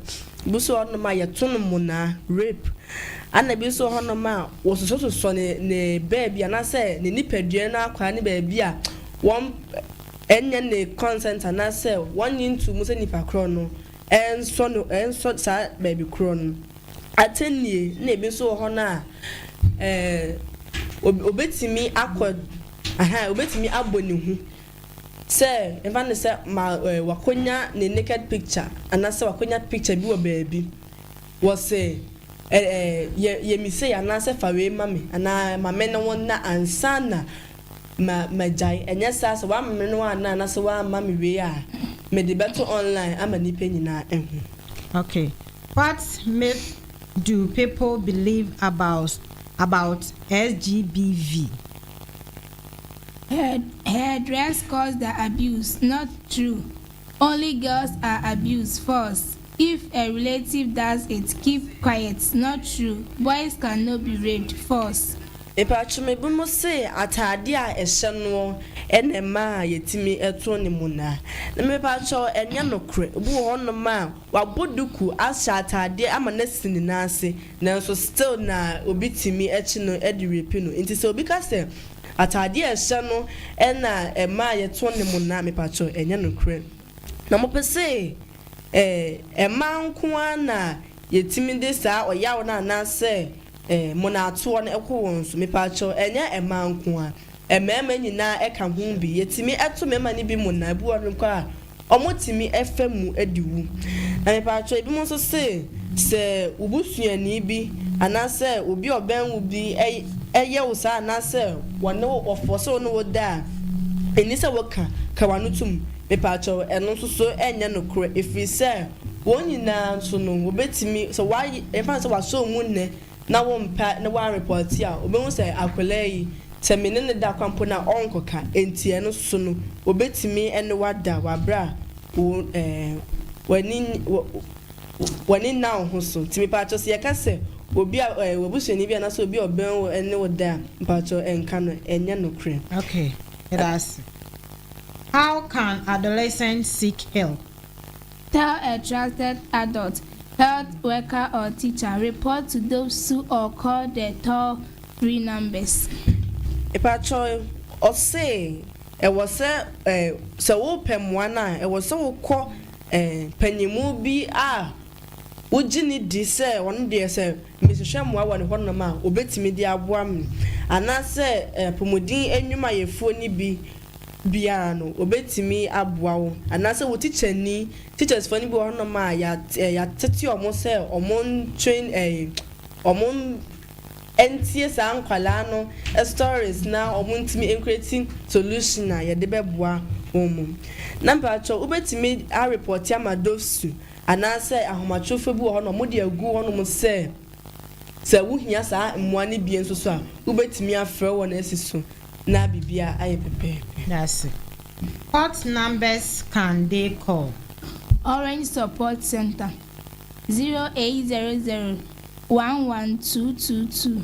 Speaker 3: bi so wɔ hɔ nom a yɛ to no monaa, rape, ɛna bi so wɔ hɔ nom a wɔ sosɔ sosɔ ne ne baabi anaasɛ ne nipadua no akwaa ne baabi a wɔn nyɛ ne consent anaasɛ wɔn nye nto mu sɛ nipa korɔ no nsɔ no nsɔ saa baabi korɔ no atɛnnie ɛna bi so wɔ hɔ no a ɛɛ obetumi akɔ ɛhɛn obetumi abɔ ne hu Sɛ yɛmfa no sɛ ma wakonya ne naked picture anaasɛ wakonya picture bi wɔ baabi, wɔse ɛ ɛ yɛ me sei anaasɛ fa wei ma me anaa ma me ne wo nna ansa na ma magyae ɛnyɛ saa sɛ woamma me ne wo anna anaasɛ woamma me wei a mede bɛto online ama nnipa nyinaa ahu. Ok,
Speaker 2: what myth do people believe about about SGBV? Her
Speaker 5: her dress caused the abuse not true only girls are abused false if a relative does it keep quiet not true boys can no be raped false. Mepaatwom ebinom
Speaker 3: se ataade a ɛhyɛ noɔ na ɛma yɛtumi to ne mu na. Mepaatwom ɛnyɛ nokorɛ. Obi wɔ hɔ nom a. Wabɔ duku, ahyɛ ataadeɛ ama no asi ne nan ase nanso still na obi tumi kye no de rape no. Nti sɛ obi ka sɛ ataadeɛ a ɛhyɛ no na ɛma a yɛtɔn ne mo no a, mepakyɛw ɛnyɛ nokorɛ. Na mopɛ se eh, mmaa nko ara na yɛtumi de saa ɔyaw no anaasɛ eh, monatoɔ no kɔ wɔn so? Mepakyɛw ɛnyɛ mmaa nko ara. Mmarima nyinaa ka ho bi. Yɛtumi to mmarima no bi mmonnaa. Ebi wɔ hɔ no koraa a, wɔtumi fa mu de wu. Na mepatwɔ, ebinom nso se, sɛ wo busuani bi anaasɛ obi a ɔbɛn wo bi yɛ wo saa anaasɛ wɔne wo, wɔfɔɔse wo ne wo da a, enni sɛ woka, ka w'ano tom. Mepatwɔ, ɛno nso so nyɛ nokorɛ, ɛfiri sɛ wɔn nyinaa nso no, wɔbɛtumi, sɛ wɔayɛ, yɛmfa no sɛ wɔasɔ wo mu nnɛ, na wo mpɛ ne wo anrepɔte a, obehu sɛ akwadaa yi, sɛ me ne no da kwa mpo no a, ɔrenkɔka. Enti ɛno so no, obetumi ne wo ada wɔ bere a wo, ɛɛ, w'ani, wɔ, w'ani nna wo ho so. Enti mepatwɔ, sɛ yɛka sɛ obi a, ɛɛ, w'abusuani bi anaasɛ obi a ɔbɛn wo ne wo da a, mepatwɔ nka no, ɛnyɛ nokorɛ. Okay, meda ase.
Speaker 2: How can adolescents seek help? Tell
Speaker 5: a trusted adult, health worker or teacher, report to those who or call the toll free numbers. Mpatsɔ,
Speaker 3: ɔse ɛwɔ sɛ eh, sɛ wopɛ mmoa no a, ɛwɔ sɛ wokɔ eh, panyinmu bi a wogye no di sɛ ɔno deɛ sɛ. Mehwehwɛ mmoa wɔ hɔnom a wɔbɛtumi de aboa me, anaasɛ apɔmuden nnwumayɛfoɔ no bi biara no, wɔbɛtumi aboa wo, anaasɛ wo tikyani, teachers foɔ no bi wɔ hɔnom a yɛatete wɔn sɛ wɔntwen wɔn ntie saa nkwadaa no stories na wɔntumi nkreti solution a yɛde bɛboa wɔn. Na mpakyɛw wobɛtumi arepɔte ama DOVSU Anaasɛ ahomatrofoɔ bi wɔ hɔ na wɔde agu hɔnom sɛ sɛ wohia saa mmoa no bi nso so a, wobɛtumi afrɛ wɔn asi so na biribiara ayɛ pɛpɛɛpɛ. Dase.
Speaker 2: What numbers can they call? Orange
Speaker 5: Support Centre, 0800 11222.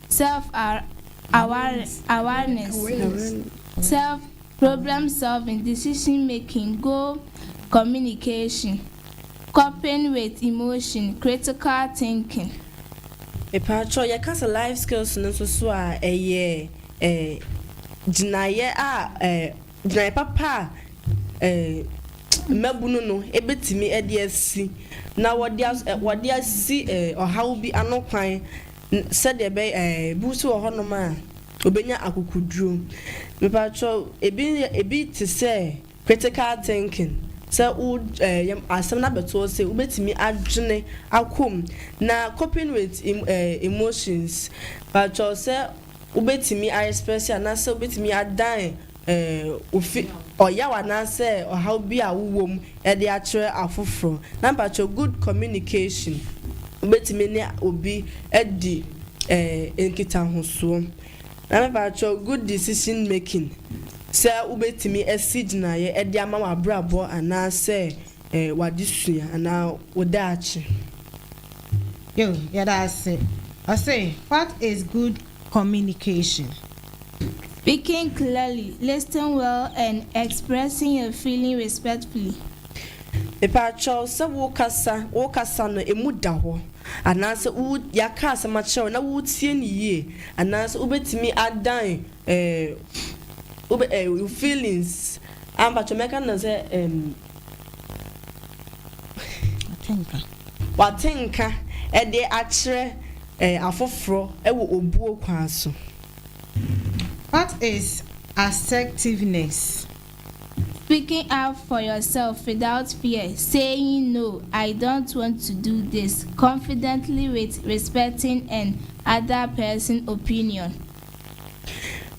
Speaker 5: Self awareness, self problem solving, decision making, goal communication, coping with emotion, critical thinking.
Speaker 3: Mpakyɛw yɛka sɛ life skills no nso so a ɛyɛ gyinaeɛ a gyinaeɛ papa a mmabunu no bɛtumi de asi na wɔde asi ɔhaw bi ano kwan N, Sɛdeɛ ɛbɛyɛ a, ebi nso wɔ hɔnom a, wɔbɛnya akokoduro. Mepakyɛw, ebi, ebi te sɛ critical thinking, sɛ wo, ɛɛ, yam, asɛm no abɛto wo se wobɛtumi adwene akɔ mu, na coping with em, ɛɛ, emotions, mepakyɛw, sɛ wobɛtumi a express anaasɛ wobɛtumi adan Wofi ɔyaw anaasɛ ɔhaw bi a wowom de akyerɛ afoforo. Na mpakyɛw good communication wobɛtumi ne obi adi nkitahosoɔ. Na mepakyɛw good decision making sɛ wobɛtumi asi gyinaeɛ de ama w'abrabɔ anaasɛ w'adesua anaa wo daakye.
Speaker 2: Yo, yɛda ase. Ɔse what is good communication.
Speaker 5: Speaking clearly, listing well and expressing your feeling respectfully.
Speaker 3: Mepakyɛw sɛ wo kasa wo kasa no emu da hɔ anaasɛ wo yɛaka asɛm akyerɛ wo na woretie no yie anaasɛ wobɛtumi adan eh, wobɛ eh, feelings ah mpakyɛw mɛka no sɛ eh, Wate nka de akyerɛ afoforɔ wɔ obuo kwan so.
Speaker 2: What is assertiveness?
Speaker 5: Speaking up for yourself without fear, saying no, I don't want to do this, confidently with respecting an other person opinion.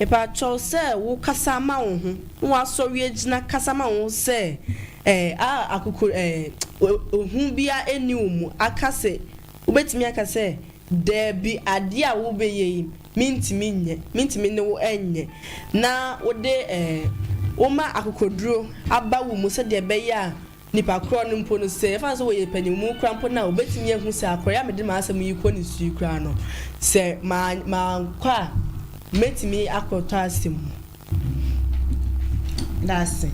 Speaker 5: Mepakyɛw
Speaker 3: sɛ wo kasa ma wo ho, na w'asɔre agyina kasa ma wo ho sɛ eh, a akokor eh, ehu biara enni wo mu, aka sɛ, wobetumi aka sɛ, Dabi, ade a wobɛyɛ yi, mintumi nyɛ, mintumi ne wo nyɛ, na wode eh, woma akokoduru aba wo mu sɛdeɛ ɛbɛyɛ a Nnipa korɔ no mpo no, sɛ yɛfa no sɛ wɔyɛ panyinmuu koraa mpo no a, wɔbɛtumi ahu sɛ akorɔ yi a mede m'asɛm yi rekɔ ne so yi koraa no, sɛ mankɔ a, mɛtumi akɔtɔ asɛm mu.
Speaker 2: Dase.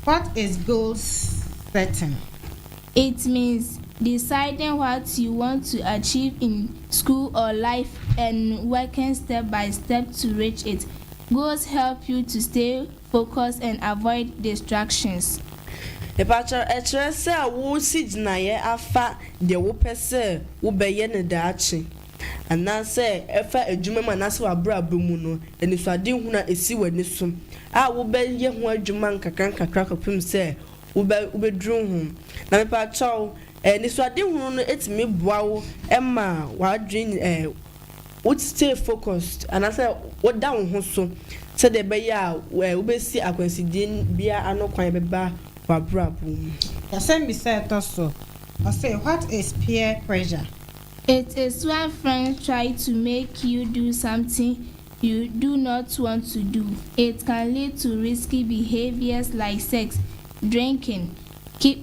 Speaker 2: What is goal setting? It
Speaker 5: means deciding what you want to achieve in school or life and working step by step to reach it. Goals help you to stay Focus and avoid distractions. Mepakyɛw,
Speaker 3: ɛkyerɛ sɛ woresi gyinae afa deɛ wopɛ sɛ wobɛyɛ no daakye, anaasɛ ɛfa adwuma mu anaasɛ w'abrabɔ mu no, anisoadehunu a ɛsi w'ani so a wobɛyɛ ho adwuma nkakrankakra kɔpem sɛ wobɛduru ho. Na mepakyɛw, anisoadehunu no tumi boa wo ma w'adwene Wo stay focused anaasɛ woda wo ho so sɛdeɛ ɛbɛyɛ a wobɛsi akwansideɛ biara ano kwan bɛba w'abrabɔ mu.
Speaker 2: Asɛmbisa a ɛtɔ so ɔse
Speaker 3: what
Speaker 2: is peer pressure? It
Speaker 5: is when friends try to make you do something you do not want to do. It can lead to risky behaviors like sex, drinking,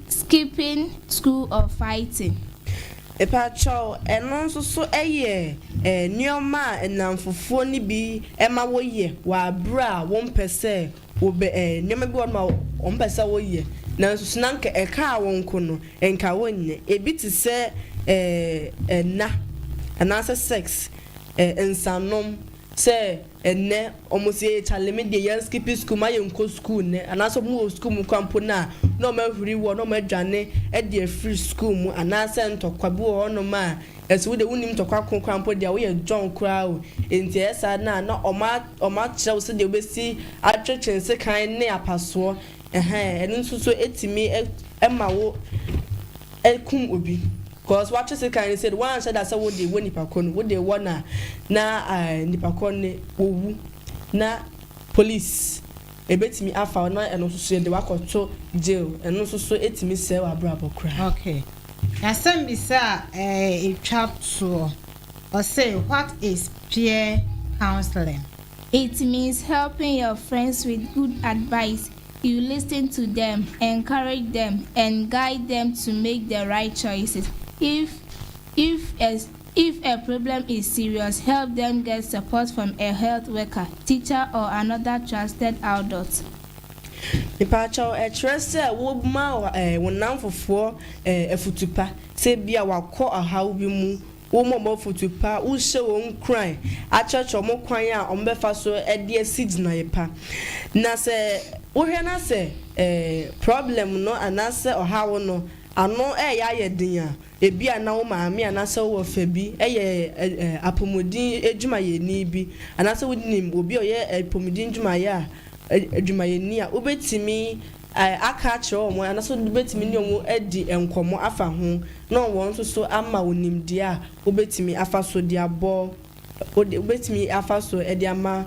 Speaker 5: Skipping school of fighting. Mepakyɛw,
Speaker 3: ɛno nso so yɛ nneɛma a nnamfofoɔ no bi ma woyɛ wɔ aberɛ a wɔmpɛ sɛ wɔbɛ nneɛma bi wɔ hɔnom a wɔmpɛ sɛ woyɛ nanso so na anka ɛkaa wo nko no nka wonyɛ ebi te sɛ ɛnna anaasɛ sex nsanom sɛ Ɛnnɛ ɔmo se Charlie me deɛ yɛn skipi sukuu ma yɛn nkɔ sukuu nnɛ anaasɛ ɔmo wɔ sukuu mu koraa mpo no a na ɔmo ahuri woɔ na ɔmo adwane ɛde afiri sukuu mu anaasɛ ntɔkwa bi wɔ hɔ nom a ɛse wo deɛ wo nnim ntɔkwa ko koraa mpo deɛ wo yɛ John koraa o enti ɛyɛ saa no a na ɔmo ɔmo akyerɛ wo sɛdeɛ wobɛsi atwetwe nsekan ne apasoɔ ɛhɛɛ ɛno nso so ɛtumi ɛma wo ɛkum obi. Cos watwe sekan no said wanhyɛ da sɛ wode wɔ nipa korɔ no wode wɔ na na nipa korɔ no wɔwu na police ɛbɛtumi afa wo na ɛno nso so yɛde wakɔ to jail ɛno nso so ɛtumi sɛe wabrabɔ koraa. Ok
Speaker 2: asɛm bisa a ɛtwa toɔ ɔse what is peer counseling. It
Speaker 5: means helping your friends with good advice You listen to them, encourage them and guide them to make the right choices. If if a if a problem is serious, help them get support from a health worker, teacher or another trusted adult.
Speaker 3: Mepakyɛw, ɛkyerɛ sɛ woma wo nnamfofoɔ afutu pa, sɛ ebia wɔakɔ ɔhaw bi mu, Wommɔ wɔn afotu pa, wonhyɛ wɔn nkuran akyerɛkyerɛ wɔn kwan a wɔbɛfa so de asi gyinae pa. Na sɛ wohwɛ na sɛ problem no anaasɛ ɔhaw no ano reyɛ ayɛ den a, ebia na wo maame anaasɛ wo wɔfa bi yɛ apɔmuden adwumayɛni bi, anaasɛ wunim obi a ɔyɛ apɔmuden adwumayɛ a adwumayɛni a, wubetumi aka akyerɛ wɔn a na so wobɛtumi ne wɔn adi nkɔmmɔ afa ho na wɔn nso so ama wo nimdeɛ a wobɛtumi afa so de abɔ, wobɛtumi afa so de ama,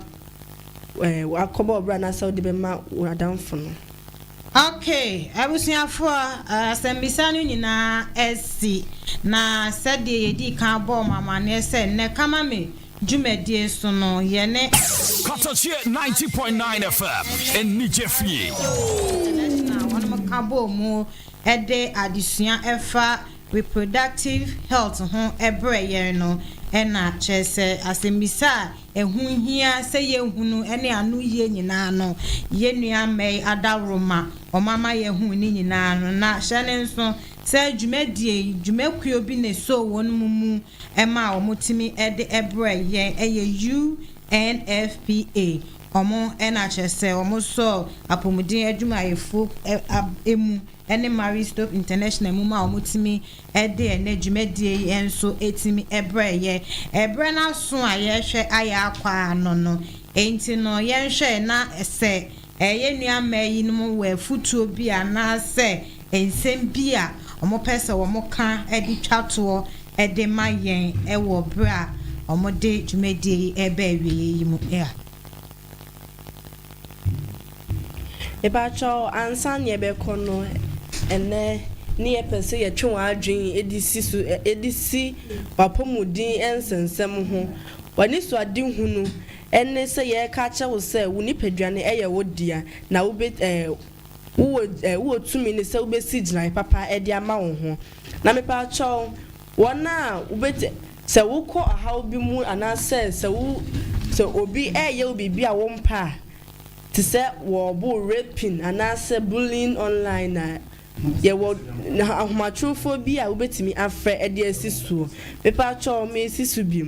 Speaker 3: akɔbɔ ɔbra anaasɛ wode bɛma wo adamfo no. Ok,
Speaker 2: abusuafoɔ, asɛmmisa no nyinaa asi, na sɛdeɛ yɛdii kan bɔɔ mo amanneɛ sɛ nnɛ Kamame dwumadie so no, yɛne. Kɔtɔkyeɛ
Speaker 6: ninety point nine FM anigye fie. International
Speaker 2: a wɔn ka bɔɔ mu de adesua ɛfa reproductive health ho brɛ yɛn no na kyerɛ sɛ asɛmmisa a ɛho hia sɛ yɛhunu ne ano yie nyinaa no yɛn nua mmɛyi adaworo ma wɔn ama yɛahu ne nyinaa no na hyɛ ne nso sɛ dwumadie yi dwumakuo bi na ɛsɔɔ wɔn mu ɛma a wɔn tumi de brɛ yɛn ɛyɛ UNFPA wɔn ɛna kyerɛ sɛ wɔn sɔɔ apɔmuden adwumayɛfo ɛmu ɛne Marie Stopes International mu ma wɔn tumi ɛde ɛnɛ dwumadie yi ɛnso ɛtumi ɛbrɛ yɛ ɛbrɛ no aso a yɛhwɛ ayɛ akɔ ano no ɛnti no yɛnhwɛ na sɛ Yɛn nua mmaa yinom wɔ afotuo bi anaasɛ nsɛm bi a wɔpɛ sɛ wɔka de twa toɔ de ma yɛn wɔ berɛ a wɔde dwumadie yi reba awieɛ yi mu a?
Speaker 3: Mepakyɛw ansa na yɛbɛkɔ no ɛnnɛ ne yɛpɛ sɛ yɛtwe wɔn adwene de si so de si w'apɔmuden nsɛnsɛm ho. W'anisoadehunu Ɛne sɛ yɛreka akyerɛ wo sɛ wo nipadua no yɛ wo dea na wobe eh, wowɔ eh, wowɔ tumi no sɛ wobɛsi gyinae papa de ama wo ho. Na mepakyɛw, wɔn a wobet, sɛ wokɔ ɔhaw bi mu anaasɛ sɛ wo, sɛ obi reyɛ wo biribi a wompɛ a, te sɛ wɔrebo wo, raping, anaasɛ bullying online a, yɛwɔ ahomatrofoɔ bi a wobɛtumi afrɛ de asi soɔ. Mepakyɛw, meresi so bio.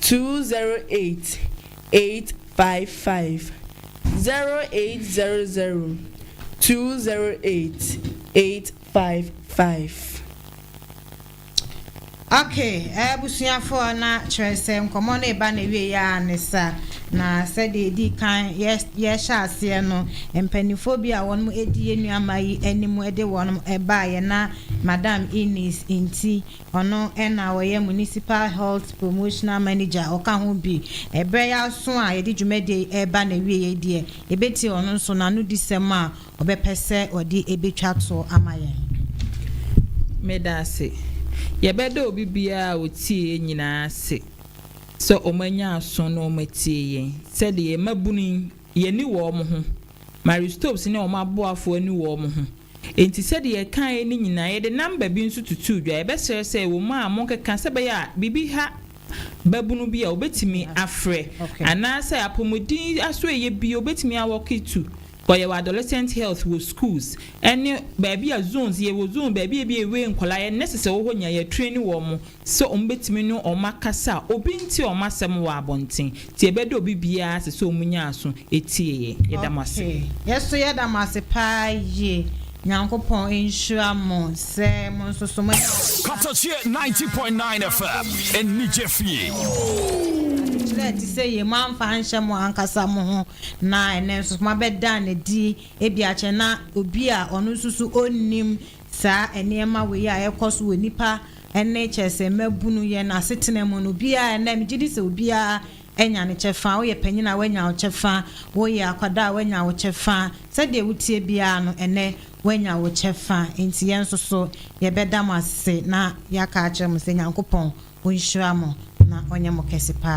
Speaker 2: two zero eight eight five five zero eight zero zero two zero eight eight five five. Okay abusuafoɔ na kyerɛ sɛ nkɔmɔ no eba na wie yɛ a ne sa na sɛdeɛ edi kan yɛ yɛhyɛ aseɛ no mpanimfoɔ bi a wɔn edi yɛn nuama yi anim de wɔn baayɛ na madam Eunice nti Ɔno na ɔyɛ Municipal Health Promotional Manager, ɔka ho bi. Ɛberɛ yi aso a yɛde dwumadie yi reba n'awieeɛ deɛ, yɛbɛtie ɔno nso n'anodisɛm a ɔbɛpɛ sɛ ɔde bɛtwa toɔ ama yɛn. Meda ase.
Speaker 4: Yɛbɛda obi biara a ɔtie yɛn nyinaa ase sɛ wɔanya aso na wɔatie yɛn, sɛdeɛ yɛn mmabunu yi, yɛn ani wɔ wɔn ho, Marie Stopes ne wɔn aboafoɔ ani wɔ wɔn ho, Enti sɛdeɛ yɛkaeɛ no nyinaa, yɛde namba bi nso tutuu dwa. Yɛbɛsrɛ sɛ wɔ mu a monkeka sɛ ɛbɛyɛ a biribi ha babunu bi a ɔbɛtumi afrɛ, anaasɛ apɔmuden aso ɛyɛ bi ɔbɛtumi a walk it to wɔ yɛwɔ adolescent health wɔ schools ɛne baabi a zones yɛwɔ zone baabi a ebi a ɛwei nkwadaa yɛn nurses wɔ hɔ nyinaa yɛatraini wɔn sɛ wɔbɛtumi ne wɔn akasa a obi nte wɔn asɛm wɔ abɔnten, nti ɛbɛ dɛ obi biara sɛ sɛ wɔn nyaa aso tie yɛ. Yɛda mo ase. Okay yɛso yɛda mo
Speaker 2: ase paa yie Nyankopɔn nhyira mo sɛ mo nso so moanya ɔbotan. Katakyie ninety
Speaker 6: point nine FM anigye fie. Adekyerɛ a ɛte
Speaker 2: sɛ yei moamfa anhyɛ mo ankasa mo ho na ɛnnɛ nso moabɛda no adi ebi akyɛ na obi a ɔno nso so ɔnnim saa nneɛma wei a ɛrekɔ so wɔ nnipa Ɛnne kyerɛ sɛ mmabunu, yɛn asetena mu no, obiara, ɛnnɛ, megye di sɛ obiara anya ne kyɛfa. Woyɛ panyin a, woanya wo kyɛfa. Woyɛ akwadaa a, woanya wo kyɛfa. Sɛdeɛ woteɛ biara no, ɛnnɛ, woanya wo kyɛfa. Enti yɛn nso so, yɛbɛda mo ase na yɛaka akyerɛ mo sɛ Nyankopɔn ɔnhyira mo na ɔnyɛ mo kɛse paa.